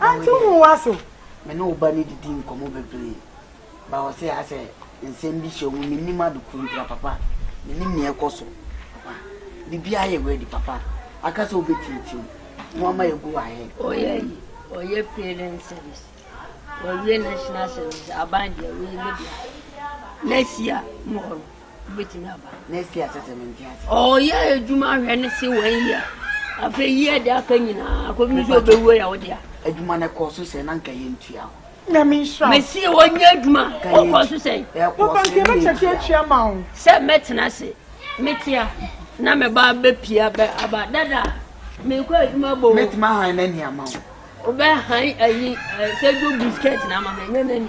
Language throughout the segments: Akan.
Aunty wohu w'ase. Me ne wo ba no didi nkɔmmɔ bebree but ɔse aa sɛ nsɛm bi hyɛ wo mu, mennim ade koro nti a papa, mennim nea ɛkɔ so papa, biribiara yɛ ready papa, aka sɛ wobɛtintim mu ama yɛ go ahead. Ɔyɛ ayi, ɔyɛ parent service, wawie national service, aban deɛ woyi ne deɛ next year, mmɔɔ no. Wobɛtumi aba next year sɛ sɛ mente ase. Ɔyɛ adwuma ahwɛ ne se wɔn yia. Afei yia de aka nyinaa akɔbi nso ɔbɛwuo yɛ wode a. Adwuma no kɔɔ so sɛ na nka yɛntua ho. Nyame nhyira. Mesi wɔnyɛ adwuma ɔkɔɔ so sɛ. Papa nka ɛbɛkyɛkyɛ atua ma wo. Sɛ mɛtena ase metea na me ba bɛpia bɛ aba dada mekɔ adwuma bɔ. Mɛtumi ahan n'ani ama wo. Wobɛhan ayi sɛ dwo biskɛt na ama me nyɛ n'ani.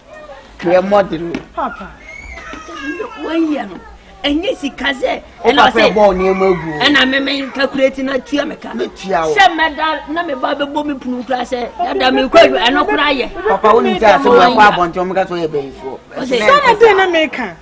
Hwɛ mɔden o. Papa. Wɔyɛ no. Ɛnyɛ sika sɛ. Ɛna ɔsɛ. Wopɛ bɔ nneɛma gu o. Ɛna meme nkakureti na tua me ka. Metua o. Sɛ mɛda na me ba bɛbɔ me punu kura sɛ dada me kɔ adu ɛno kora yɛ. Papa wo nim sɛ asɛm akɔ abɔnten wɔn ka so yɛ bɛyifoɔ. Sɛ na den na meka.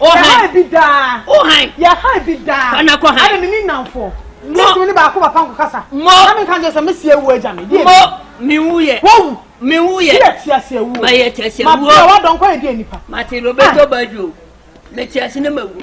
Yɛha ebi daa. Wohan. Yɛha ebi daa. Kwana kɔ han. Ɛna mini nnamfoɔ. Mo. Sisi mi ni baako papa nko kasa. Mo. Na mi nka nkyɛn sɛ mi si ewu agya mi. Mo. Mi wu yɛ. Wowu. Mi wu yɛ. Yɛ ti ase ewu. Ma yɛ ti ase ewu. Ma bia wa dɔn kɔ yɛ di nipa. Ma ti Roberto Baggio. Mi ti ase ne ma wu.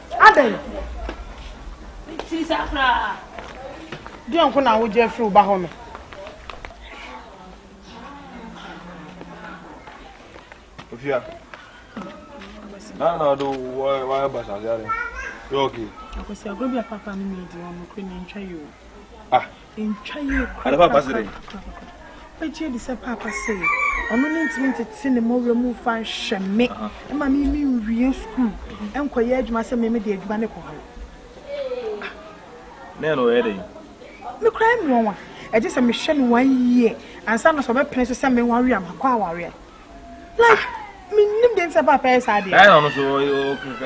Adɛn? Ti sa koraa. Deɛ nko na wogye afiri wo ba hɔ no. Ofia. Na na do wa wa ba sa yare. Yo okay. Akwasi agro bi a papa no mi di ɔno kure na ntwa yo. Ah. Ntwa yie korakora. Wobɛgye adi sɛ paapa sɛ ɔno ne ntumi ntete ne mmɔwerɛ mu mfa nhwɛ me ma me me nwie sukuu nkɔyɛ adwuma sɛ me mede adwuma ne kɔ hɔ. Ne ɛna ɔyɛ dɛn? Me kora yɛ mmoa wa. Ɛgye sɛ mehwɛ no one year ansa na sɛ ɔbɛpene so sɛ menware a makɔ awareɛ. Like menim deɛ nti sɛ paapa yɛ saa deɛ. Na ɛna ɔno so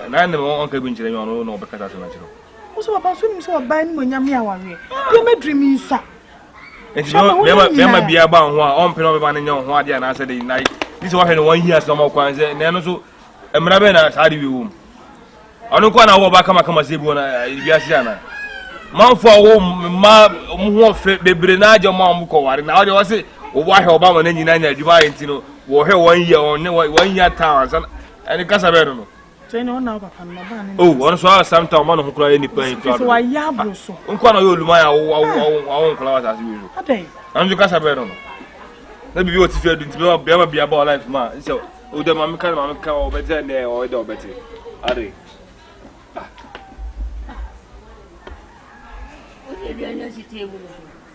na ɛna ɔnka bi nkyerɛ me ɔno na ɔbɛkasa sɛ no akyerɛ Wo sɛ papa so nim sɛ ɔbaa animonyam yɛ awareɛ. Deɛ mɛdiri mi nsa. Nti bɛma biara ba ho a ɔmpɛ na ɔbɛma no nyɛ ho adeɛ anaasɛ de na ne sɛ wɔhwɛ no wɔn hia sɛ ɔma kwan sɛ na ɛno so mmara bɛn na saa de wi wom ɔno nko na wɔ ɔba kamakama sɛ bi wɔ na wiase ana manfo a wɔ mma ɔmo ho ɔfɛ bebree na agye ɔmo a ɔmo kɔ ware na ɔde ɔse wɔwɔ ahwɛ ɔba wɔn nyinaa nya adwuma ayɛ nti no wɔhwɛ wɔn yia wɔn ne wɔn yia taa wɔn nsa ɛne kasa bɛn no no Oh, ɔno so a samta ɔma ne ho koraa yɛ nipa yi koraa dodo. Nko na ɔyɛ oluman a awo awo awo awo nkola wɔ asase wei so. Ɛno nso kasa bɛrɛ no no. Na bibi wɔ tifi adu nti bɛma bɛma bia bɔ life ma sɛ o dɛ maame ka maame ka ɔbɛ dɛ nɛ ɔyɛ dɛ ɔbɛ te. Ade. Ah. Ɔyɛ aduane asi table so.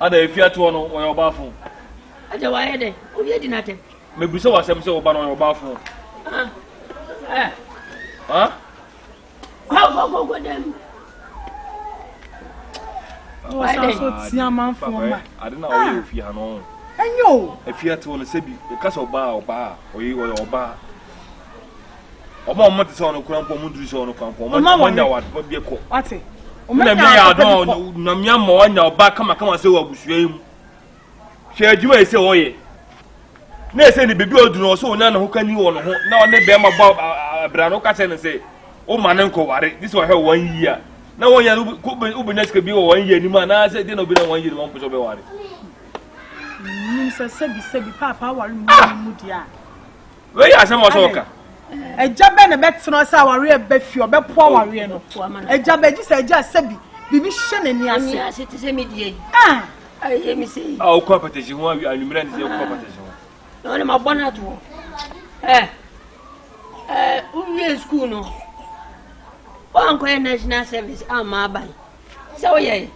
Ada efi atoɔ no wɔyɛ ɔbaafo. Agya wayɛ dɛ obi adi n'atɛm. Mebisa w'asɛm sɛ ɔba no ɔyɛ ɔbaafo. Kɔkɔkɔkɔ dɛm. Ɔsan so tia amanfoɔ ma. Ade na ɔyɛ ofi ha no. Ɛnyɛ o. Efi atoɔ no sɛbi ɛka sɛ ɔbaa ɔbaa ɔyɛ ɔyɛ ɔbaa. ɔma wɔn te sɛ wɔn kura mpo wɔn duru sɛ wɔn kura mpo wɔn ma wɔn nya wɔn adepa bi kɔ wate wɔn nya wɔn adepa bi kɔ nyame ama wɔn nya ɔba kamakama sɛ wɔ abusua yi mu hwɛ adwuma yi sɛ wɔyɛ na ɛsɛ ne bebi ɔduru ɔsɛ wɔn nya ne ho ka ni wɔn ho na ɔne bɛrima bɔ abira no ka kyerɛ ne sɛ wɔn ma ne nkɔware ne sɛ wɔhwɛ wɔn yie a na wɔn yɛ no wobɛnya sika bi wɔ wɔn yie anim a na sɛ deɛ na obi na wɔn yie no wɔn mpɛ sɛ ɔbɛware nim sɛ sɛbi sɛbi paapa aware mu mu deɛ a Wei yɛ asɛm ɔsɛ ɔka. Agya bɛ na bɛtena ɔsɛ awareɛ bɛ fie ɔbɛpo awareɛ no. Agya bɛ gye sɛ agya sɛ bi biribi hyɛ n'ani ase. Ɛni ase te sɛ mi die yi. Ah. Ayɛ mi sɛ yi. A okɔ apatagye ho awi anumere ne sɛ okɔ apatagye ho. Na ɔne ma bɔ no ato hɔ. Ɛ ɛ wowie sukuu no wankɔyɛ national service amma aban. sɛ woyɛ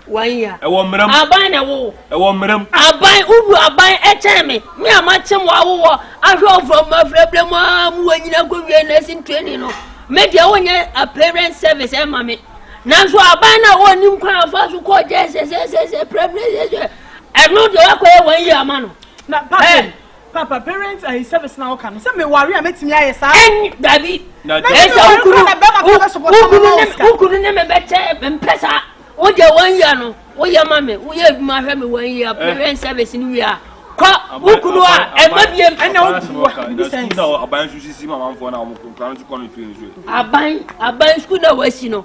wanya ɛwɔ mmerɛm aban na ɛwo ɛwɔ mmerɛm aban wowu aban ɛkyɛn me me a makyem wɔ awowɔ ahwɛ ɔfrɔ mu afrɛbrɛ mu a mu wɔ nyina kɔwie nursing training no me deɛ wonyɛ a parent service ɛma me nanso aban no a wɔnim kwan afa so kɔɔ gyɛ sɛsɛsɛsɛ prɛprɛ sɛsɛ ɛno deɛ wakɔyɛ wɔn yi ama no na papa Papa, parents ayi service na ɔka no. Sɛ me ware a mɛtumi ayɛ saa. Ɛnyi dabi. Ɛsɛ wokunu wokunu ne me bɛkyɛ mpɛ saa. Wo deɛ wɔn yia no woyɛ ma me woyɛ adwuma hwɛ me wɔn yia eh. parents service no wia kɔ wokunu a ɛma bie mpɛ. Ɛna wokunu a bibi sɛn. Aban sukuu na wɔsi no.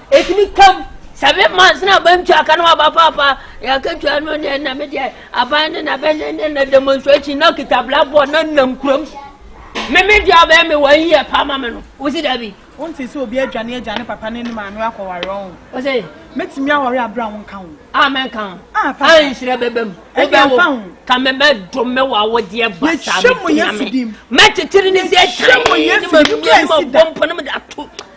ɛtumi ka seven months na aban tua ka no aba paapa yɛakatua no neɛ na medeɛ aban ne na bɛne ne na demonstration na kita blackboard na nam kurom meme deɛ abɛyɛ me wɔn yɛ pa ma me no wosi da bi wonte sɛ obi adwane agya ne papa ne ne maame akɔware ɔn ɔsɛ mɛtumi awɔre aberɛ a wonka ho a mɛnka ho a nhyerɛ bɛbɛ mu wobɛwo ka mɛbɛdo me wɔ awodeɛ basa mɛtumi ame mɛkyekyere ne sɛ ɛkyɛn ne mamia ne mabɔmpɔ ne mede ato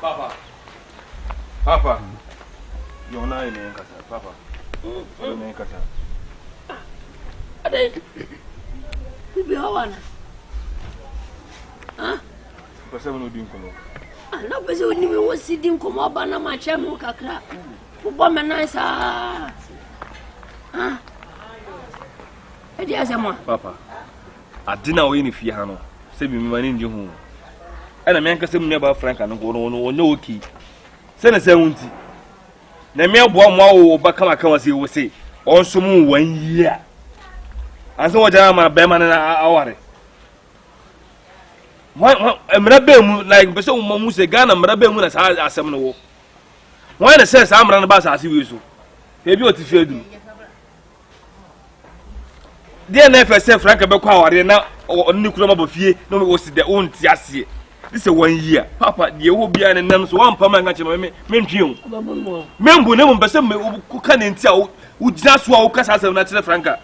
Papa. Papa. Yo na ene nkasa. Papa. Ene nkasa. Ade. Bibi hawana. Ah. Pese mo di nkomo. Ah, na pese oni me wo si di nkomo aba na ma che mo kakra. Wo bo me nan sa. Ah. Ade asema. Papa. Adze no a ɔyɛ no fie ha no, sɛ bi mma n'enyi ho o. Nna me ankasa mo nuabaa Franca no nko no ɔnnyɛ okay. Sɛ na sɛ wo ntsi, Nyame aboa wo ma awo wo ba kama kama sei wo se ɔnsom wo one year ansa wɔgya ama bɛrima no aware. Mmara bɛn mu, like mpɛ sɛ mo mu sɛ Ghana mmara bɛn mu na saa asɛm no wɔ? Wɔn na sɛ saa mmara no ba asase wei so, ebi ɔte fie aduru. deɛ na ɛfɛ sɛ franka bɛkɔ awareɛ na ɔne ne kura mabɔ fie na wɔsi dɛ wonte aseɛ ne sɛ wanyi a papa deɛ ɛwɔ biara ne nam so woampa ma nka kyerɛ me mentwe o membu na mmom pɛ sɛ woka ne nti a wogyina so a woka saa asɛm no akyerɛ franka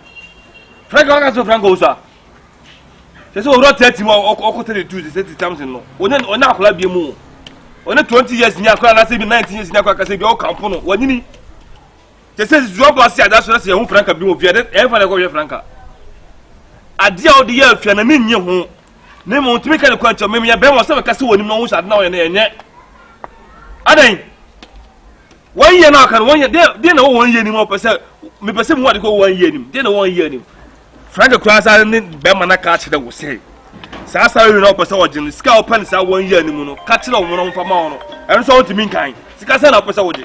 franka waka sɛ franka wo so a sɛ sɛ ɔwura tati mu a ɔkɔ tati tu sɛ ti tamsin no ɔne ɔne akora bie mu ɔne twenty years ni akora anase bi nineteen years ni akora kasa bi ɔkampo no wanyini te sɛ zuo bɔ ase ada so na sɛ yɛho franka bi wɔ fie ɛde ɛmfa na ɛkɔhwɛ franka adeɛ a wode yɛ afia na ne nye ho ne mu ntumi ka ne kwan kyɛ mmemme yɛbɛn wɔ sɛ bɛka sɛ wɔnim na wɔn hyɛ ade na wɔyɛ no ɛnyɛ adan wɔn yɛ na ɔka no wɔn yɛ deɛ na wɔn yɛ nim ɔpɛ sɛ mepɛ sɛ mu ade kɔ wɔn yɛ nim deɛ na wɔn yɛ nim franka kura asa ne bɛrima na ka kyerɛ wɔ sɛ saa saa yɛ na ɔpɛ sɛ ɔgye no sika ɔpɛ ne saa wɔn yɛ nim no ka kyerɛ wɔn na wɔn fa ma wɔn no ɛno nso wɔn ntumi nkan sika sɛ na ɔpɛ sɛ ɔgye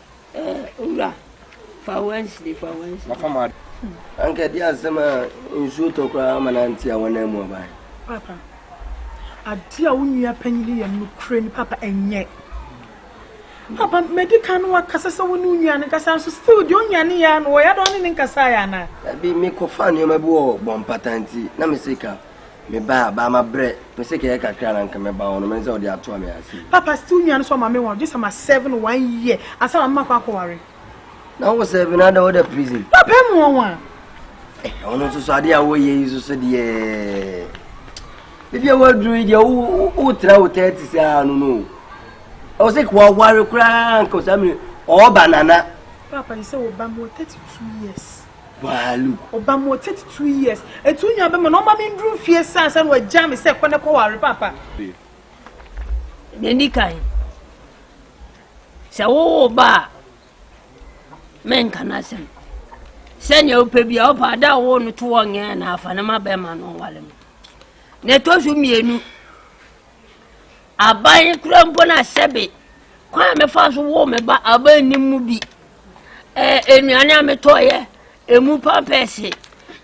Eh owura fa Wednesday fa Wednesday. Mafa ma. Anka ɛde asɛm a nsuo tɔ koraa ama no ante a wɔnan mu aba. Papa, adeɛ a wo nua panyin yɛ no korɛ ni papa ɛnyɛ. Papa, mɛdi kan no wakasa sɛ wo ne wo nua no nkasa nso still deɛ onyane yɛ ano wɔyɛ adɔn ne ne nkasa yɛ anaa. Ɛbi mekɔfa nneɛma bi wɔ bɔmpata nti na mesika. Meba a baa mabrɛ. Me sɛ kɛyɛ kakra na nka mɛba hɔ no mɛne sɛ ɔde atoa me ase. Papa still nua no so ɔma me wɔn gyes ama seven one year ansa na mema kɔ akɔware. Na wo seven ada wo da prison. Papa emu wɔn wɔn a. Eh ɔno nso so adeɛ a wɔyɛ yi nso so deɛ ebi a wɔaduru yi deɛ wo wo tra wo thirty saa no no ɔwɔ sɛ kò aware koraa nka ɔsɛ amiri ɔɔba nana. Papa yi sɛ ɔba mu wɔ thirty two years. Baaluk. Ɔbaa mu wɔ thirty two years. Etu nyaa bɛ ma na ɔma me nduru mfie sa ansa na wagyaa me sɛ kɔ na kɔware paapa. Nea ɛdi kan, sɛ wowo ba a, menka no asɛm. Sɛnea wopɛ bi a, wopɛ ada a wowo no to ɔnyɛ na afa no ma bɛrima no ɔware no. Nea ɛtɔ so mmienu, Aban kura mpo na sɛbe kwan a mefa so woo me ba aban nnim mu bi. Ɛɛ nnuane a metɔeɛ, emu pampɛɛse,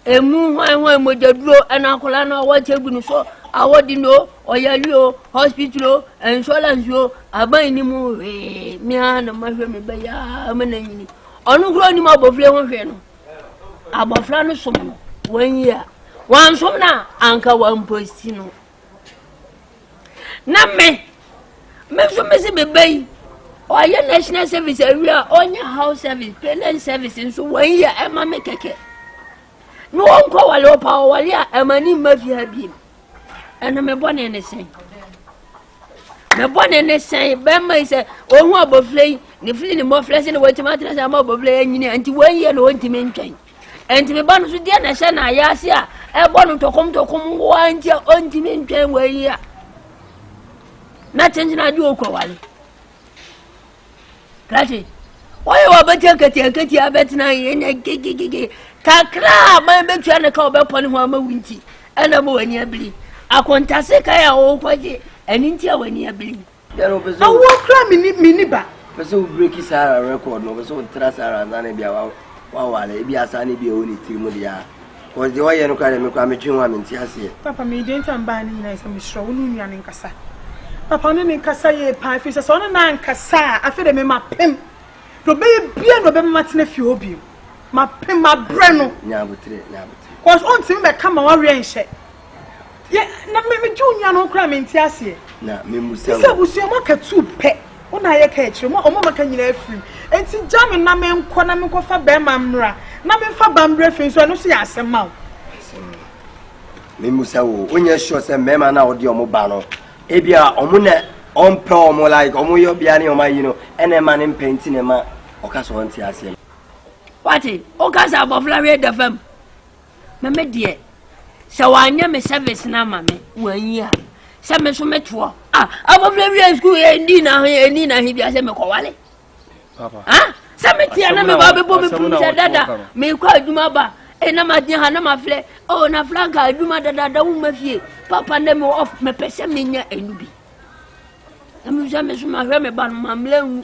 emu hwan hwan mogyaduro ɛna akwadaa no a wɔte agu no so a wɔde no ɔyare o hospital o insurance o aban nnim mu hwee mmea na mahwɛ me ba yi aa me na nyini ɔno kura onim abɔfra ho hwee no abɔfra no som no wɔn yi a wɔn som no a anka wɔn mposi no. na me me nso me se me ba yi ɔyɛ national service awie a ɔnyɛ house service parent service nso wɔn yɛ ɛma me kɛkɛ na ɔnkɔ wɔle ɔpa ɔwɔle a ɛma ne mma fi ha biem ɛno me bɔ ne ne sɛn me bɔ ne ne sɛn bɛrima yi sɛ ɔhu abɔfra yi ne fili ne mmɔfra sɛ na wɔatumi atena sɛ ama abɔfra yi anyini nti wɔn yɛ na ɔntumi ntwɛn Enti me ba no so deɛ na ɛhyɛ no ayase a ɛbɔ no ntɔkomntɔkom wo a nti a ɔntumi ntwɛn wɔ ayi a na kyenkyen ade ɔkɔ wale kati wɔyɛ wɔ bɛtia katiakatia bɛtena yɛnyɛ gegegege kakra a man bɛtua ne ka wɔbɛpɔ ne ho ama wo nti ɛna ma w'ani abiri akontase kae a wɔwokɔgye ɛno nti a w'ani abiri Awoɔ kora meni ba. Pɛ sɛ wo breki Sarah record no, pɛ sɛ wotra Sarah ansa na bia wawale, ebi asa ne bia ɛwɔ ne tiri mu deɛ a. Cause deɛ ɔyɛ no kora deɛ me kora metwe ho a mente aseɛ. Papa me deɛ nti a mbaa ne nyinaa sɛ mesrɛ wo ne onua ne nkasa. Papa ɔne ne nkasa yie paa ɛfiri sɛ sɛ ɔne naa nkasa a afei deɛ me mapem deɛ ɔbɛyɛ bia na ɔbɛma matena fie hɔ bio. Mapem mabrɛ no. Nya abotere, nya abotere. Cause ɔntumi bɛka ma wareɛ nhyɛ. Yɛ na me me juu nyano kura me nti aseɛ. Na me musa wo. Sɛ abusua mo aka tuu pɛ. Wo na ayɛ ka akyire mo a ɔmo maka nyinaa afirim. Nti gya me na me nkɔ na me nkɔ fa bɛɛma mmra na me nfa ba mbrɛ fie nso ɛno nso yɛ asɛm ma wo. Asɛm no. Me musa wo. Wo nyɛ sure sɛ mɛɛma na ɔde ɔmo ba no. Ebia ɔmo na ɔmpɛ ɔmo like ɔmo yɛ ɔbea ne ɔmo ayi no ɛna ɛma ne mpɛ nti na ɛma ɔka sɛ ɔnte aseɛ no. Wate? Wo ka sɛ abɔfra wei da fam. na me deɛ sɛ wanyɛ me service no ama me wanyi a sɛ me nso metoɔ ah, abɔfra wia sukuu ɛndi na he ɛni na he bia sɛ mekɔwale ah, sɛ meteɛ na meba bɛbɔ me pum sɛ dada mekɔ adwuma ba e na magyina ha na mafrɛ o oh, na franka adwuma dadada woma fie papa ndɛ me off mepɛ sɛ menya ɛnu bi na mesɛ me so mahwɛ me ba no mammerɛ nwu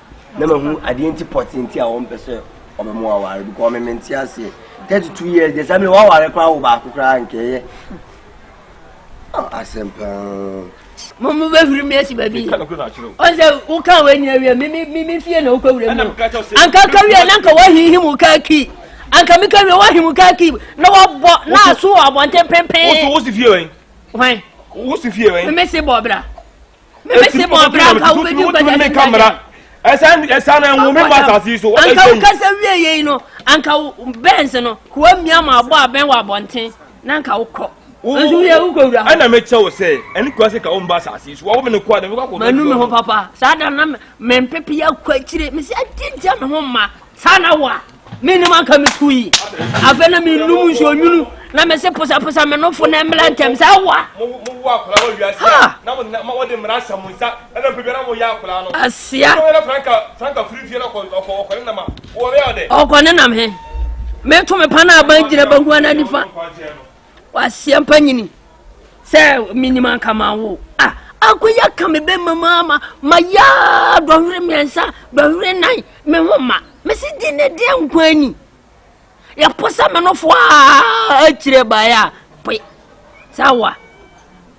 na mahu adeɛ nti pɔtee nti a wɔmpɛ sɛ ɔbɛmo aware because meme nte aseɛ 32 years deɛ saa mene woaware koraa wo baako koraa nkɛyɛ ah, asɛm paa mo mo bɛ huri mi esi baabi ɔsɛ woka wɔ nyina wie mi mi mi fie na wokɔ wura mu anka ka wie na nka wahihi mu ka ki anka mi ka wie wahihi mu ka ki na wabɔ na aso wɔ abɔnten pempen wosi fie wɛn wosi fie wɛn mi si bɔ bra mebɛsi ma ɔbra nka wobɛdi nkwagya ne nkwagya ɛsa na ɛnwo me ma asase yi so wobɛsɛ yi anka wokasa wie yei no anka bɛns no kowa mmia ma abɔ abɛn wɔ abɔnten na anka wokɔ nso yɛ wokɔ wura hɔ ɛna mekyɛ wo sɛ ɛne kowa sɛ ka wo mba asase yi so wɔwo me ne kowa de mekɔ akɔ manu me ho papa saa da na mempepe akɔ akyire mesɛ adi ntia me ho mma saa na wo a menim anka metu yi afei na menom nsuo nwunu na mese posaposa me nofo na mmra ntɛm sɛ awa asia ɔkɔne nam he meto me pa no aban gyina banguana nifa Waseɛ mpa nyini sɛ menim anka ma wo a akɔyi aka me bɛma mu ama mayɛ dɔhwere mmiɛnsa dɔhwere nan me ho ma mese di ne deɛ nkwa ani yɛpo sɛ menofoɔ a akyire baeɛ a poe sɛ wa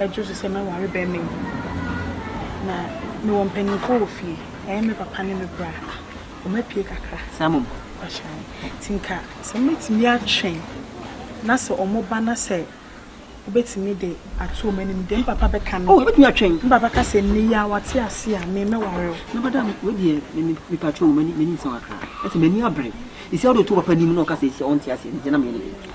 Ɛdwo so sɛ mɛware bɛmma yi. Na mewɔ mpanimfoɔ wɔ fie. Ɛyɛ me papa ne me bra. Wɔapue kakra. Saa mmom. Mpakyɛ wo. Nti nka sɛ mobɛtumi atwɛn na sɛ wɔba na sɛ wobɛtumi de ato wɔn anim deɛ me papa bɛka no. Oh, wobɛtumi atwɛn. Me papa ka sɛ nnɛ yi a wate ase a, me mɛware wo. Na bada wei deɛ me me mepakyɛ wo m'ani m'ani nsɔ kakra. Ɛsɛ m'ani abere. Ɛsi a wode to papa anim na ɔka sɛ ɛsi a ɔnte aseɛ no deɛ na meyɛ ne dɛn?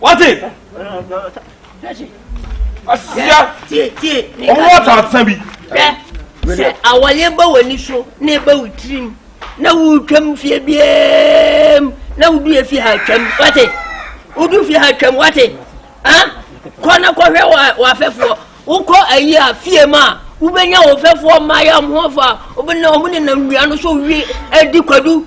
wate asia ɔmo wɔ asaasa bi. sɛ awɔleɛ ba w'ani so na ɛba wo tirim na wotwam fie biam na wodu yɛ fie ha twam wate wodu fie ha twam wate kɔ na kɔhwɛ w'afɛfoɔ wokɔ ayi a fie mu a wobɛnya wo fɛfoɔ mmaayɛ ɔmo ho fa wobɛnya ɔmo nenam nnua no so wie adi kwadu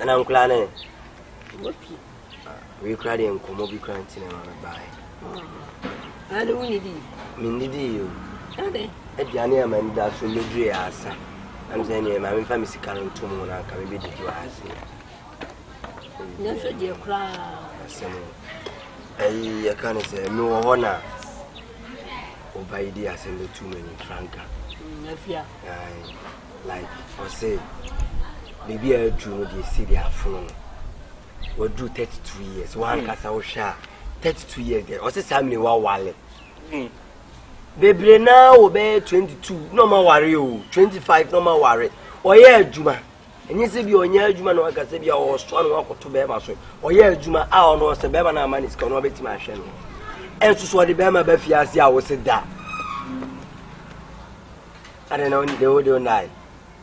ɛna ah, nkora ne wapi ah, wei kora deɛ nkɔmmɔ bi kora nti na ma mebaeɛ ah, ade wonidi mennidii o aduane a mani da so mɛduree asa nam sɛ neɛ ma memfa me sika no ntom ho no anka mebɛdidi wɔ ase nanso deɛ koraa asɛm ayi yɛka ne sɛ mewɔ hɔ na ɔba yi di asɛm bɛtu m'ani franka mm, like ɔsɛ biribi a adu no deɛ si deɛ afono no waduru thirty two years hmm. wankasa wohwɛ a thirty two years deɛ ɔsɛ saa mine wawale hmm. bebree naa wɔ bɛyɛ twenty two na ɔma ware o twenty five na ɔma ware ɔyɛ adwuma ɛnyɛ sɛ bi ɔnyɛ adwuma na waka sɛ bi a ɔsoa no wakɔto bɛrima so ɔyɛ adwuma a ɔno ɔsɛ bɛrima no ama ne sika ɔno ɔbɛtumi ahwɛ no ɛnso so ɔde bɛrima ba fie ase a wɔsɛ da Adɛn na wode wode wo nae?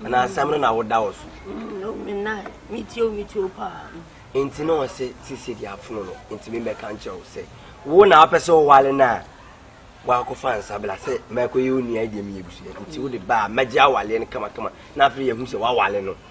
Anaa asɛm no na woda wo so? No, me nae. Metie o, metie o paa. Nti na ɔse sisi de afono no, nti me bɛka nkyerɛ wo sɛ wo na wopɛ sɛ wowale no a wakɔfa nsabla sɛ mɛkɔyɛ wo nua deɛ meyɛ abusua nti wode baa mɛgye awaleɛ no kamakama na afei yɛhu sɛ wawale no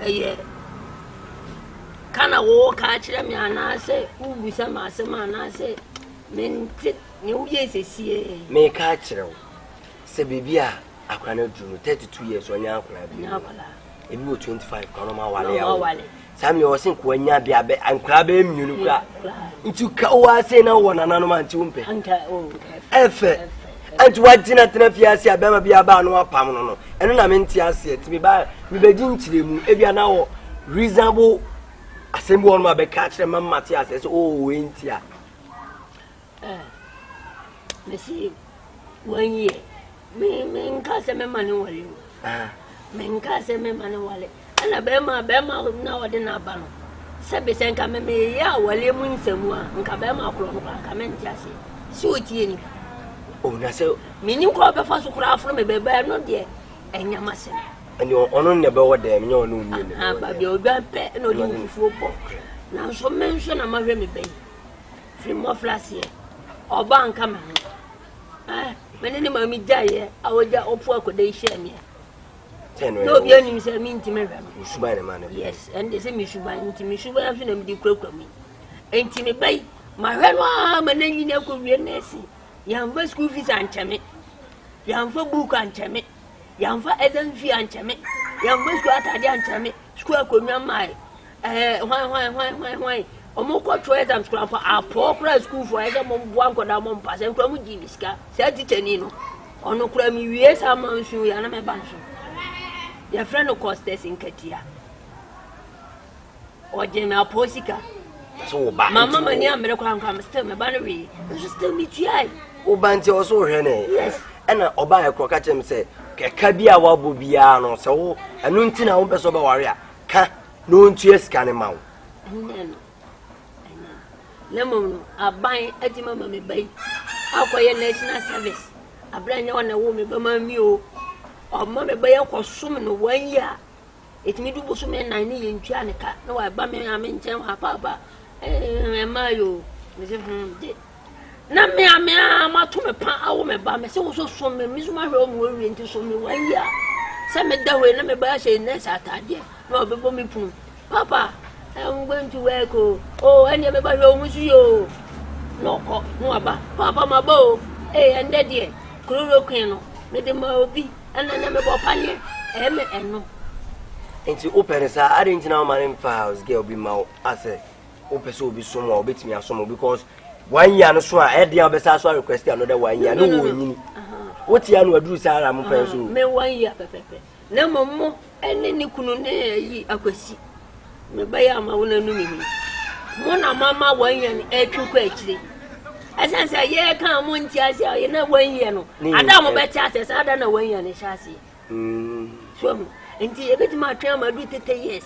ɛyɛ ka na woreka akyerɛ me anaasɛ wobisa me asɛm anaasɛ mente nea woyɛe sesie. Meka akyerɛ wo sɛ baabi a akora no aduru no 32 years ɔnyɛ akora bi. Ebi wɔ 25 kora no ma wale awo. Saa mmea ɔse nkoa nya bia bɛ nkora bɛyɛ mmienu kora nti ka wo ase na wɔ nananom a nti wo mpɛ ɛfɛ nti wagyina tena fie ase a bɛrima bi aba ano apam no no ɛno na mente aseɛ nti meba mebɛgye nkyerɛ mu ebia na wɔ reasonable asɛm bi wɔnom a bɛka kyerɛ ma mate aseɛ sɛ oo oh, wei nti a Eh mese wanyi ɛ me me nka sɛ mɛma ne wale o ah. me nka sɛ mɛma ne wale ɛna bɛrima bɛrima na ɔde n'aba no sɛbi sɛ nka mɛ meyɛ awale mu nsɛmu a nka bɛrima korɔ no koraa nka mɛnte aseɛ sɛ ɔtie ni bi o na sɛ menni kɔ bɛfa so koraa aforo me bɛbɛɛ no deɛ ɛnyama sɛm ɛne ɔno ne bɛwɔ dɛm nyɛ ɔno nie ne bɛwɔ dɛm baabi odwan pɛ na ɔde ne fufuo bɔ nanso me nso na mahwɛ me bɛyi Firi mmɔfraseɛ, ɔbaa nka me ho. Eh, me ne ne maame gyaeɛ a ɔgya ɔpo akɔda yi hyɛɛ meɛ. Na obi anim sɛ mentimi hwɛ no. Suban ne ma no. Yes, ɛnde sɛ me suban nti me suban nso na mede kurakura mu. Enti me bɛyi mahwɛ no ara ma n'anyini akɔwie nɛɛse. Yɛamfa school fees ankyɛ me. Yɛamfa book ankyɛ me. Yɛamfa ɛda nsu yɛ ankyɛ me. Yɛammɔ sukuu atade ankyɛ me. Sukuu akonnwa mmae. Ɛɛ hwan hwan hwan hwan hwan. Wɔkɔ twerɛ exams koraa mpo apɔɔ koraa sukuufoɔ ayɛ sɛ wɔboa nkwadaa wɔn mpa sɛ nkwadaa mu gye bi sika. Saa tikyani no ɔno koraa mewie saa ma nsuo yɛ na mɛba no so. Yɛfrɛ no Costas Nkatia. ɔgye me apɔ sika mama m'ani ammere kora nkora me still meba no wee nso still metuae woba nti ɔso wohwɛ ne ɛna ɔbaa ɛkorɔ ka kyerɛ me sɛ ɛka bi a woabɔ biara no sɛ wo ɛno nti na wompɛ sɛ wobɛware a ka na ɔntua sika no ma wo na mmom no aban atumi ama me ba yi akɔyɛ national service aberɛ nyɛ ɔna wo me bɛma mi o ɔma me ba yi akɔsom no wɔn yi a Ɛtumi du bosome nnan ne yɛntua ne ka na waba me ame nkyɛn hɔ apaapa ɛmaa yɛ o mese hmm de na me a me a mato me pa awo me ba me se wo so som me me so mahwɛ wo mu awie nti som me wɔn yi a sɛ meda hɔ yi na me ba ahyɛ nɛɛsɛ ataadeɛ na ɔbɛbɔ me punu papa I'm going to work o o ɛnneɛ me ba hwɛ wo mu so yɛ o na ɔkɔ na waba papa ma ba o ee ɛndɛ deɛ kuroro kwen no mede ma obi Ɛnna na mebɔ paneɛ ɛmɛ ɛno. Nti wopɛ no saa adɛn nti na woma no mfa house girl bi ma wo asɛ wopɛ sɛ obi som a wobɛtumi asom wo because one year no so a ɛdeɛ a wobɛsa so a request another one year ne wɔnyini wotia no aduru saa ara mo pɛn so me one year pɛpɛpɛ na mmom mo ne ne kunu ne ayi akwasi mebɛyɛ ama wo nanu me mu mo na mama wɔnyɛn atwi kɔ akyire ɛsiane sɛ yɛyɛ ka mo nti ase a yɛna wɔnyɛ no ada mo bɛte asɛ saa da na wɔnyɛ no hyɛ aseɛ so mu nti yɛbɛtumi atwe ama du tete years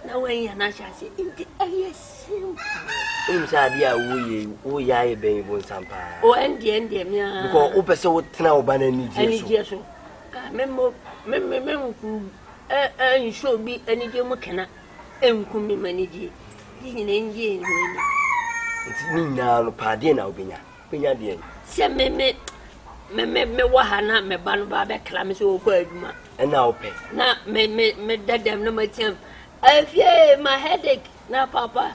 na wɔnyɛ no ahyɛ aseɛ nti ɛyɛ sim wonim sɛ adeɛ a woyɛ woyɛ ayɛ bɛn yi bonsam paa ɛndeɛ ɛndeɛ mea because wopɛ sɛ wotena wo ba no anigyeɛ so Me mmo me me me nku ɛ ɛ nhyɛ obi anigye mu kena nku me m'anigye ne nyinaa ngye nhu ani. Nti ne nyinaa no paa deɛ na wobɛnya wobɛnya deɛn. Sɛ me me me me me wɔ ha na me ba no ba bɛkra me sɛ ɔkɔ adwuma. Ɛna wopɛ. Na me me me da dɛm na matia m. Afie ma headache na papa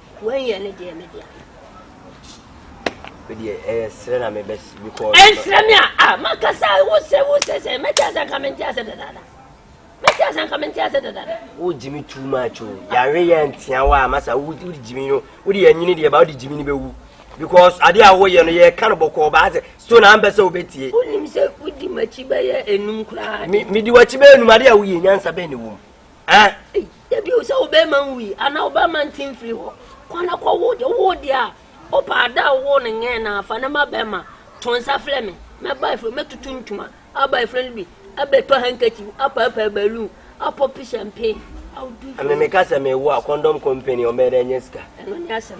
Wei yɛ ne deɛ me deɛ. Me deɛ ɛyɛ eh, srɛ na me bɛ bikɔ. Ɛnsrɛ eh, me a a makasa wo sɛ wo sɛ sɛ mɛte asɛ nka mente asɛ dadaada. Mɛte asɛ nka mente asɛ dadaada. Wo gyimi too much o. Oh. Yare yɛ ntia wa masa wo di gyimi no. Wo di anyini deɛ ba wo di gyimi ni bɛwu. Because ade a woyɛ no yɛ ka no bɔkɔɔ ba asɛ so na ampɛ sɛ wobɛtie. Wonim sɛ wodi m'akyi bɛyɛ enum koraa. Me di w'akyi bɛyɛ enum ade a woyɛ nyansa bɛn na ɛwɔ mu. Ɛ? Eyi bio sɛ wo bɛrima nwui anaa wo bɛrima nte mfiri hɔ. Kɔ na kɔwo deɛ wowoo deɛ a wopɛ a da a wowoo no nyɛɛ no a fa no ma bɛrima. To nsa frɛ me. Mɛba afiri hɔ, mɛtutu ntoma, aba afiri no bi, abɛtɔ handkerchief, apaapaa balloon, apɔpi champagne. I'll do it for you. Ɛme meka sɛ mewo a, condom company ɔmmɛyɛ dɛ ɛnyɛ sika. Ɛno ne asɛm.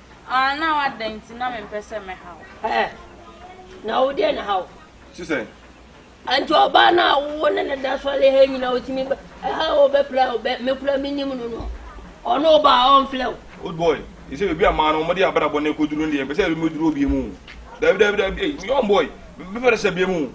Ah, now adɛn nti na mempɛ sɛ mɛha wo? Ɛɛ, na wo deɛ na ha wo? Te sɛ? Nti ɔbaa no a wo ne ne da sɔre ha nyina wotumi ba ɛha a ɔbɛpra wo bɛ mekura menim no no ɔno ɔba a ɔmfrɛ wo. Old boy, ɛsɛ baabi a maa no wɔde abrabɔ no kɔduru no deɛ mpɛ sɛ ɛbɛmɛduru obi mu. Dabi dabi dabi, ei, young boy, mepɛ sɛ bie mu.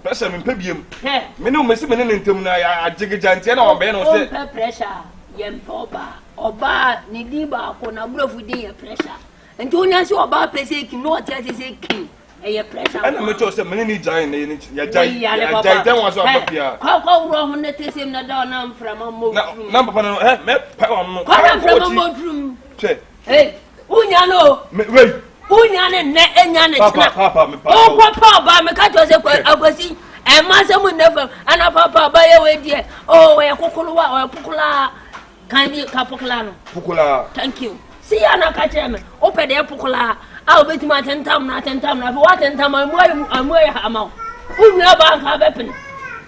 Pressure me mpɛ biem. Hwɛ. Me ne wo mesi me ne ne ntem no ayɛ agyegegya nti ɛna wabɛyɛ na ɔsɛ. O mpɛ pressure a yɛ mpɛ ɔbaa. Ɔbaa ne din baako na abrɔfo din yɛ pressure. Nti wo nya se ɔbaa pɛ sɛ ekim na ɔte ase sɛ kim ɛyɛ pressure nko a. Ɛna me kyɛw sɛ me ne ne gyae na yɛ ne yɛ gyae yɛ gyae dɛn wa so aba pia. Kɔ kɔ wura ho ne te sem na da na mframa mmɔ turum. Na na papa no hɛ mɛ pa wa no. Kɔ na mframa mmɔ turum. Hwɛ. Hey. wonya no wonya ne nnɛ enya ne kyena wokɔ paaba meka kyerɛ sɛ akwasi ɛma sɛ mu nnɛ fam ana papa ba yɛ wei deɛ ɔyɛ kokolowa ɔyɛ pokolaa kan bi ka pokolaa no pokolaa thank you si yɛ na ka kyerɛ me wopɛ deɛ pokolaa a wobɛtumi atentam no atentam no afei woatentam amu ayɛ amu ayɛ hama wo wonwura ba nka bɛpene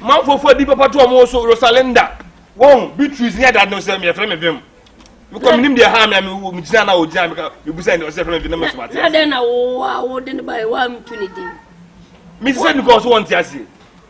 manfofoɔ di papa to ɔmo so rosalinda wɔn beatrice ne ɛda no sɛ meyɛfrɛ me vim mekɔ menim deɛ ha mea megyina na ɔgyina meka mebusa ne ɔsɛ frɛ me vim na mesoma te ase mese sɛ nukɔ so wɔnte aseɛ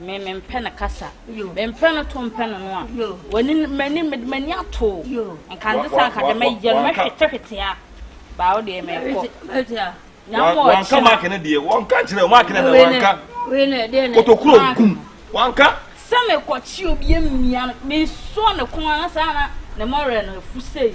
Me me mpɛ no kasa me mpɛ no to mpɛ no no a wani mani mede mani ato nka nde sɛ anka deɛ mɛyɛ no mɛhwete hwete a baa wo deɛ mɛkɔ wanka maake no deɛ wanka nkyerɛ maake no na wanka kotokuro gum wanka sɛ mekɔkye obi mmia no mesɔ ne ko a na saa na ne mɔwerɛ no afu sei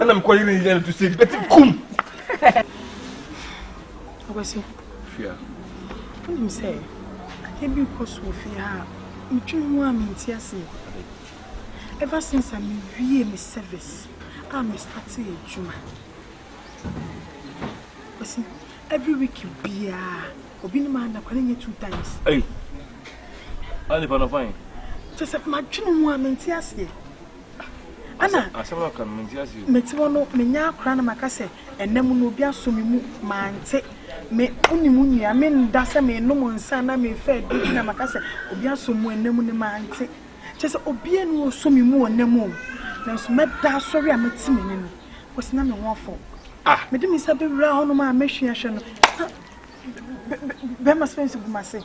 ɛna mekɔ yere ne yɛ no to sɛ ɛdi bɛti kum ɔkwasi fia wonim sɛ adeɛ bi kɔ so wɔ fie ha a metwe ho a menti aseɛ ever since a mewie me service a mestate adwuma kwasi every week biaa obi ne maa nakwa ne nyɛ two times Hey. Ani pa na fine. Just my dream one and tears here. Ɛna mete hɔ no menya akora na maka sɛ ɛna mu no obi asɔ me mu mante me wonim wo nua me nda sɛ menom nsa na mefa adi na maka sɛ obi asɔ mu ɛna mu no mante kyɛ sɛ obi ani ɔsɔ me mu ɔna mu nanso mɛda asɔre a mate m'ani no kɔsi na me ho afɔ ah. mede me nsa bɛwura hɔnom a mɛhwe ahwɛ no bɛma sɛ nso gu m'ase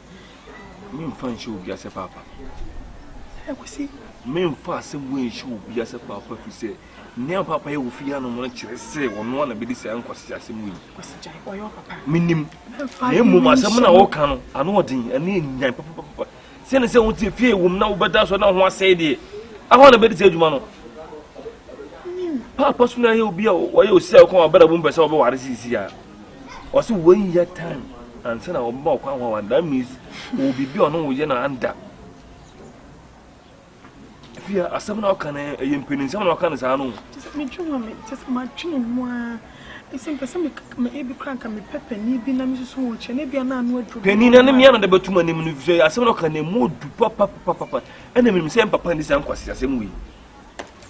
Memfa nhyɛ obi ase paapa. Ɛ kwesi. Memfa asɛm wei nhyɛ obi ase paapa fi sɛ nea paapa yɛ wɔ fie anom no kyerɛ sɛ ɔno a na bɛdi saa nkwasi asɛm wei. Kwesi gyae ɔyɛ ɔpapa. Menim. Na mmom asɛm na wɔka no ano ɔden ɛne nyan papapapa. Sɛ ne sɛ wo te fie wom na wobɛda so na ho asɛe deɛ. Ahɔ na bɛdi saa adwuma no. Paapa so na yɛ obi a ɔyɛ osi a ɔkɔn abɛda bom pɛ sɛ ɔbɛware sisi a. Ɔse wonnya time ansa na ɔbɛba ɔkwan ho awa that means ɔwɔ biribi a ɔne wo yɛ no anda fia asɛm na ɔka no ɛyɛ mpanin sɛm na ɔka no saa no medwe ho me kyɛ sɛ madwene mu a ɛsɛ mpɛ sɛ ebi kora nka mepɛ panin bi na mesusu ho kyɛ na bia na ano aduro panin na ne mea na de bɛtom anim no sɛ asɛm na ɔka no ɛmu ɔdu papapapapa ɛna menim sɛ mpapa ne saa nkwase asɛm wei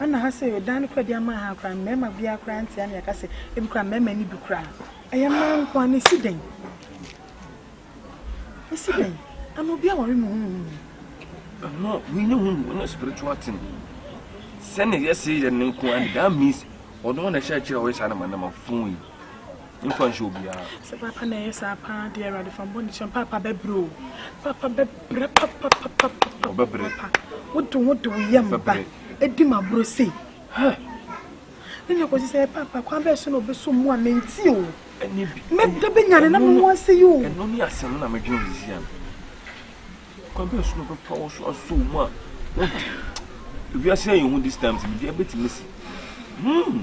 Ɛna ha sɛ yɛdan no koraa de ama ha koraa mmarima biara koraa nte a na yɛka sɛ ebi koraa mmarima no bi koraa ɛyɛ mmaa nko a na esi dɛn esi dɛn ana obi aware mu huhu ɛno wei ne hu mu ɛna spiritual thing sɛne yɛse yɛ ne nko a that means ɔno na ɛhyɛ akyerɛ a ɔyɛ saa na ma na ma fon yi mfa nhyɛ obiara. Sɛ paapa na ɛyɛ saa paa deɛ awurade fa mbɔ ne kyɛm paapa bɛbrɛ o paapa bɛbrɛ papapapapapa wode wo de wo yam ba ɛdi ma borɔ sei hɛ ne ne kɔsi sɛ paapa kwan bɛɛ so na ɔbɛso mu a menti o mɛda bɛnyane na mo ho ase yi o ɛno ne asɛm na medwene sisi ano kwan bɛɛ so na ɔbɛfa wo so aso mu a wode ewiase ayɛ ho this time sɛ biribi abɛtumi si hmm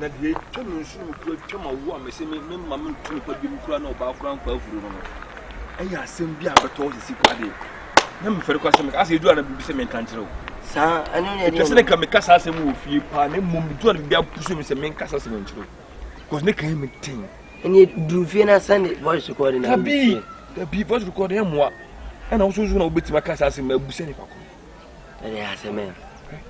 Na deɛ atwa me nsu no mu kura twa m'awoɔ a mese me me mma mentu me pa biom kura na ɔbaa kura nkɔ afuro no no ɛyɛ asɛm bi a bɛtɔ hɔ sisi kura deɛ na mefɛre kɔ asɛm meka asɛ ɛduru a na biribi sɛ menka nkyerɛ wo saa ɛno ne ɛtwa sɛ ne ka meka saa asɛm wɔ fie paa na mmom ɛduru a na biribi apusu me sɛ menka saa asɛm nkyerɛ wo because ne ka yɛ me ten ɛne duru fie no asɛne voice recording dabi dabi voice recording ɛmmoa ɛna wososo na wobɛtumi aka saa asɛm abu sɛ nipa ko ɛne asɛm ɛ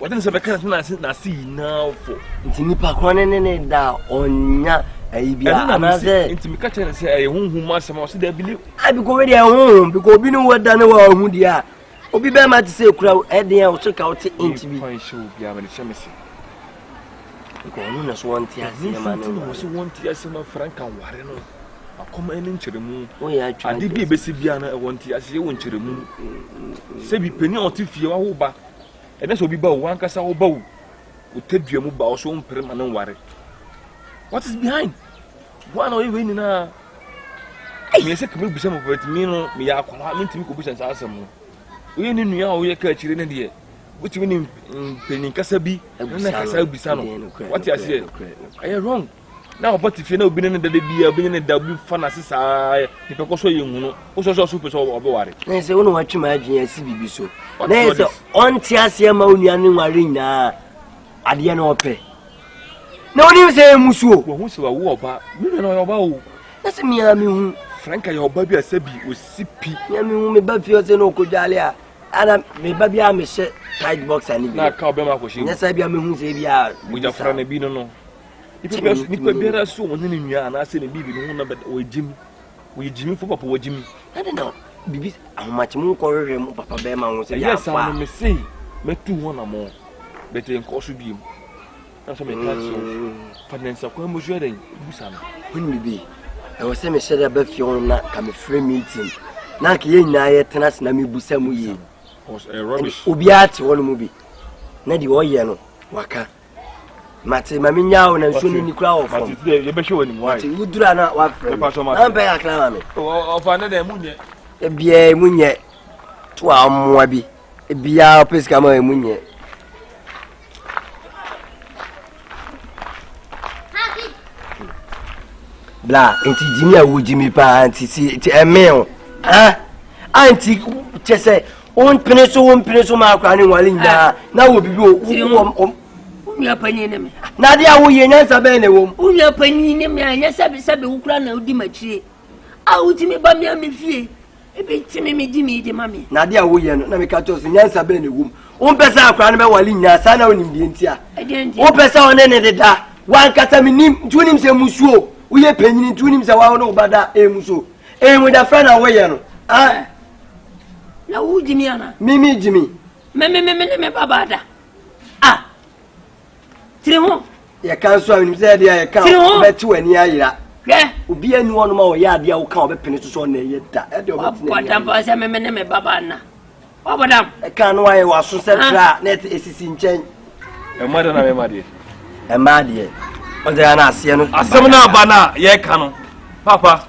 Wɔde ne sɛ bɛka so n'ase n'ase nyinaa fɔ. Nti nipa korɔ ne ne ne da a ɔnya ayi bi a anaasɛ. Nti mi ka kyerɛ ne sɛ ɛyɛ huhum asɛm a ɔsi dɛ bi ni. A biko wei deɛ huhum biko obi ne wo da ne wa ɔhu deɛ a obi bɛɛ ma te sɛ ekura ɛdeɛ a ɔso ka ɔte inch bi. Nfa nhyɛ obi a ma ne hyɛ me se. Nka ɔno na so wɔn ti aseɛ ma ne wɔn. Nti wɔn ti aseɛ ma frank anware no akɔma ɛne nkyerɛmu ade bi ebesi bia no ɛwɔ nti ase yɛ wɔ nkyerɛmu sɛbi panyin a ɔte fie wawo ba Ɛnyɛ sɛ obi ba o, wankasa wo ba o. Wo tadua mu ba o so wompere ma no nware. What is behind? Woa na ɔyɛ wei nyinaa. Meyɛ sɛ kame bisa mu but me no meyɛ akwadaa mentumi kɔbisa saa asɛm no. Woyɛ ne nua a woyɛ ka akyire no deɛ wotumi ne mpanyin kasa bi na kasa bisa no. Wate aseɛ? Ɛyɛ wrong. na papa te fie na obi ne ne da da bi a obi ne ne da obi fa n'ase saa ne pɛkɔ so yɛ nhunu wosɔ sɛ ɔso pɛ sɛ ɔbɛware ne sɛ wone watwe ma adwene asi biribi so na yɛ sɛ ɔnte aseɛ ma wo nua ne nware nyinaa adeɛ na ɔpɛ na wonim sɛ ɛmu suo wahu sɛ wawo ɔba me nua na ɔyɛ ɔba o na sɛ mea mehu franka yɛ ɔba bi a sɛ bi ɔsi pi mea mehu meba fie ɔsɛ na ɔkɔdwale a ana meba bi a mehyɛ tight box ane bi na ka ɔbɛma akɔhyɛ nyɛ sɛ bia mehu sɛ bi a mogyafra no bi no no Nipa biara so ɔne ne nua anaasɛ ne biribi ne ho na bɛda ɔyɛ gyimi ɔyɛ gyimi fo papa wɔ gyimi. ɛne na bibi ahomakye mu nkɔhwehwɛ mu papa bɛrima ho sɛ ɛyɛ saa no mese mɛtu ho anamɔ bɛtɛ nkɔ so biem na sɛ meka kyerɛ wo mm. fa ne nsa kwan mu so yɛ dɛn busa no wone bibi ɛwɔ sɛ mehyɛ dɛ bɛfie hɔ na ka mefrɛ meeting na anka yɛ nyinaa yɛtena ase na mebusa mu yie eh, obiara te hɔ no mu bi na deɛ ɔyɛ no waka mate ma me nyaa wo na nsuo no ni kura wɔ fam yɛbɛhwɛ wɔ anim wae nti wodura na wafrɛ me na mpɛ kakra ma me ɔfa ne dɛ mu nyɛ ebiaa mu nyɛ to a mmoa bi ebiaa ɔpɛ sika ma mu nyɛ bla nti gyimi a wogyimi paa nti si ɛmee o ah anti kyɛ sɛ wo mpene so wo mpene so ma akora ne nwale nyinaa na wɔ bibi o wɔ nua panyin ne me. na adeɛ a woyɛ nyansa bɛn na ɛwɔ mu. wo nua panyin ne me a ɛnyɛ sɛbi sɛbi wo kura na wodi m'akyire a wotumi ba me a me fie ebi tumi me di me di ma me. na adeɛ a woyɛ no na meka kyerɛ so nyansa bɛn na ɛwɔ mu wompɛ sɛ akora no bɛwale nyinaa saa na wonim deɛ ntia wopɛ sɛ ɔne ne deda wankasa menim nti wonim sɛ musuo woyɛ panyini nti wonim sɛ wawo ne wo ba da ɛmu so ɛmu da frɛ na woyɛ no ah. Na wo gyimi ana? Me me gyimi. Me me me me ne me babaa da. Ah. Tiri ho. Yɛ kan so a menim sɛ ɛdeɛ yɛ kan. Tiri ho. Bɛte w'ani ayera. Hwɛ. Obi ani wɔn ma ɔyɛ adeɛ a woka a ɔbɛpene so sɛ ɔna ɛyɛ da. Ɛdeɛ ɔbɛte n'ani ayera. Wabɔ dam pa sɛ me me ne me babaa na. Wabɔ dam. Ɛka no ayɛ w'aso sɛ ah. tra na ɛsisi nkyɛn. Ɛma deɛ na mɛma deɛ. Ɛma deɛ. Ɔsɛ yɛ na aseɛ no. Asɛm no aba no a yɛka no. Papa.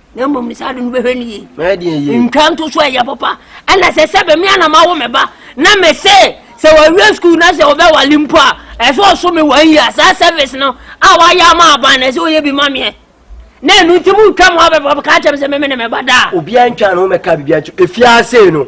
na mmom ne saa de no bɛhwɛ no yie bɛyɛ deɛ yie ntwa nto so ɛyɛ papa ɛna sɛ sɛ bɛmi ana ma wo me ba na me se sɛ wɔawie sukuu na sɛ wɔbɛwale mpo a ɛsɛ ɔso me wɔn yia saa service no a wɔayɛ ama aban na ɛsɛ wɔyɛ bi ma meɛ na ɛno nti mu twa mu abɛbɔ ka kyɛm sɛ meme ne me ba daa obiara ntwa no ho mɛka biribiara nti ɛfiaa sei no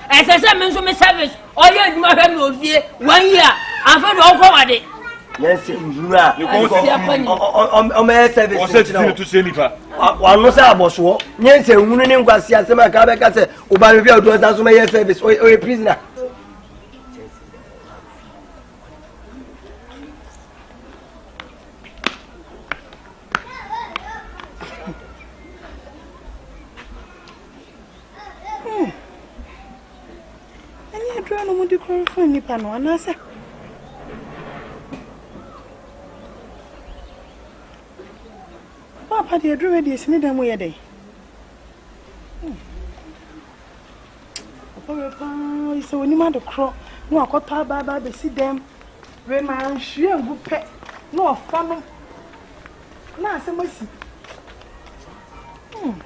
ɛsɛ sɛ me nso me service ɔyɛ adwuma hwɛ me ofie one year afei de ɔkɔ wade yɛnsɛ nhunu a ɔmɛyɛ service nkyerɛ wano sɛ abɔsoɔ yɛnsɛ nhunu ne nkwase asɛm a ka bɛka sɛ woba me hwɛ ɔdɔ sa so mɛyɛ service ɔyɛ prisoner Oh. Ɛne adura no mudi koro fa nipa no anaasɛ. Papa deɛ aduru bɛ deɛ sini dan mu yɛ dɛ. Hmm. Papa bɛ paa yi sɛ onim ade korɔ na wakɔtɔ abaaba abɛsi dɛm. Wei ma nhwie ngu pɛ na ɔfa no na asɛm asi. Hmm.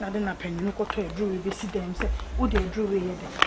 Na de na panyin kɔtɔ aduru wei bɛsi dɛm sɛ wode aduru wei yɛ dɛn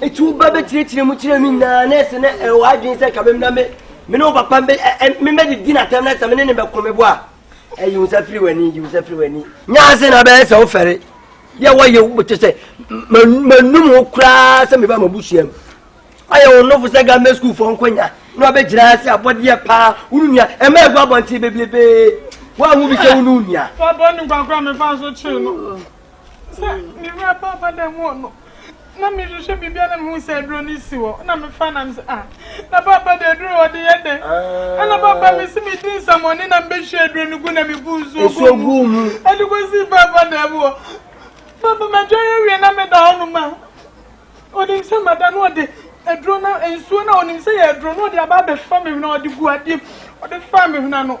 Eti wo ba bɛkyerɛkyerɛ mu kyerɛ me nyinaa na ɛsɛ na ɛwɔ adwene sɛ ka me na me me ne wo papa mebɛdidi natam na sɛ me ne ne bɛko me bo a ɛyi wo nsa firi w'ani yi wo nsa firi w'ani nyaase na bɛyɛ sɛ wofɛre yɛ wɔyɛ wokyɛ sɛ manum wo koraa sɛ meba mabusua mu ayɛ wo nofo sɛ gammɛ sukuufoɔ nkwanya na wabɛgyina ase abɔdeɛ paa wo no nua ɛma agu abɔnten bebiebee woahu bi sɛ wo ne wo nua Sɛ me wura ba aba dan mu hɔ no, na me hwehwɛ biribi a na me hu sɛ aduro no si hɔ, na me fa na me sɛ ah, na papa de aduro wɔ de yɛ dɛ, ɛna papa me si me di nsamɔne na me bɛ hwie aduro no gu na me bu nsuo gu mu, ɛde ko si papa dan mu hɔ, papa ma dwa yɛ wie na me da hɔ no ma, onim sɛ ma da no ɔde aduro na nsuo na onim sɛ yɛ aduro na ɔde aba abɛfa me hwena ɔde gu adeɛ ɔde fa me hwena no.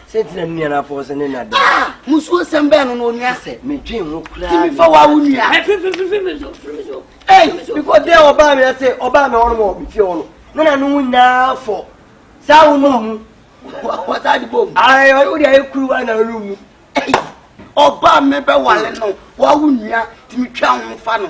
sɛnti na ne nua no afɔw sɛ ne nna dɛn ah musuo sɛm bɛɛ no na onua sɛ medwen ho koraa timi fa wa wo nua ei because dɛ ɔbaa me sɛ ɔbaa me ɔnom ɔ mefie ɔ no na na no nyinaa fɔ saa wo no mu wɔtaa de bom ayɛ wode ayɛ kuru wa na no mu ɔbaa me bɛwale no wa wo nua timi twa ho fa no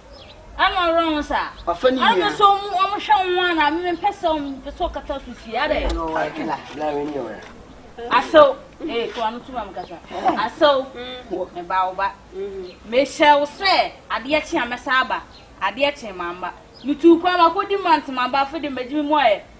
ɛna ɔwerɛ ho sa ɔfa ne nua sɛ ɔmu ɔmu hwɛ ho a na meme mpɛ sɛ ɔmu mpɛ sɛ ɔkata so sie adɛ asew ee to ano to ma mekasa asew meba wo ba mehyɛ wo sɛ adeɛ kye a mɛsa aba adeɛ kye ma mba metu kwan makɔdi mante ma mba afei de mɛgye me mu ayɛ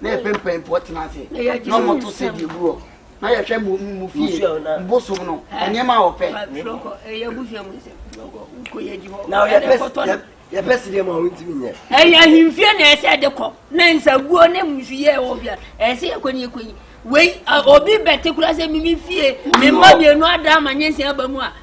na yɛpɛ mpanyimfoɔ tena ase na wɔto sɛ deɛ gu hɔ na yɛhwɛ mu mu fie bosom no nneɛma a wɔpɛ yɛpɛ si deɛ ma wɔntumi nyɛ ɛyɛ ahemfie na ɛsɛ ɛde kɔ na nsaguo ne musu yɛ wɔ bia ɛsɛ yɛkɔ ne yɛkɔ yi wei obi bɛte kora sɛ mimi fie memma mmienu ada ama nyɛ nsia aba mu a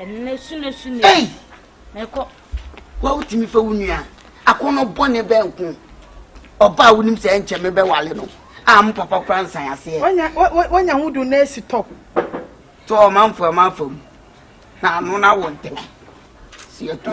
Ɛnɛ su na su na su. Mɛkɔ. Wa wotumi fɛ wo nua akɔnɔ bɔne bɛn nko ɔba a wonim sɛ ɛnkyɛ me bɛwale no a mo papa kora nsan aseɛ wanya ho du na asi tɔ tɔ ɔmanfo ɔmanfo mu na ano no awɔ ntɛm si ɛto